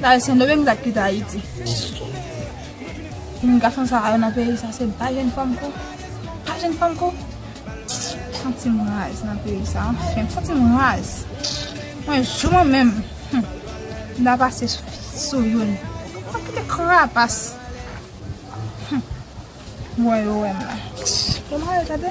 Sa e sendomeng sak kite ayiti. Moun gason sa yo nan peyi sa se pa jèn fanm ko pa jèn fanm ko m santim raz nan peyi sa anfen m santim raz mwen jou mwen menm m ta pase sou youn sak kite krapas m wè yo wèm la m wè yo tande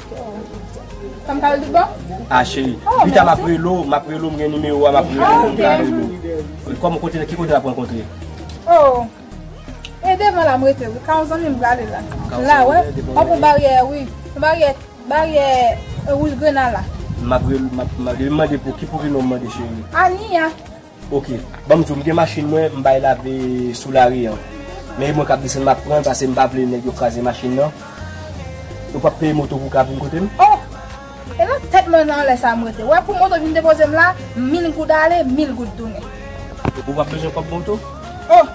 Sa m ka rele tout bon? A cheri. Pita m ap rele ou, m ap rele ou, m gen nimewo a, m ap rele ou, m ka rele ou. Kòm ou kote, ki kote n ap rankontre? Oh! E devan la m rete wi. Ka yon zanmi m prale la. La wè. An pou baryè a wi. Baryè, baryè wouj grena la. M ap rele, m ap mande pou ki pou ki non w mande cheri? Ania. Ok banm diw m gen machin mwen m bay lave sou lari an men e mwen kap desann map pran pase m pa vle nèg yo kraze machin nan yo pap peye moto pou ka vin kote m. Oh! E nan tèt mwen nan lè sa m rete wè pou moto vin depoze m la mil goud ale mil goud tounen. Ou pap bezwen kòb moto? Oh!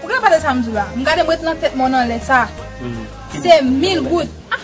Ou gen pale sa m diw la m gade m rete nan tèt mwen nan lè sa se mil goud ah!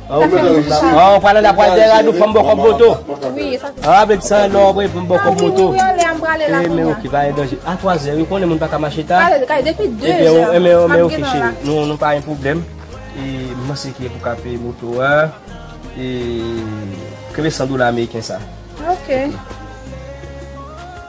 Ou pral ann da pral dè rad ou fòm bò kòm moto Ou ap vin san lò vre fòm bò kòm moto E men ok pa gen danje A 3 zè ou konnen moun pa ka mache ta E men ok cheri nou pa gen pwoblèm E m panse ki pou ka peye moto a E kenbe 100 dola ameriken sa Ok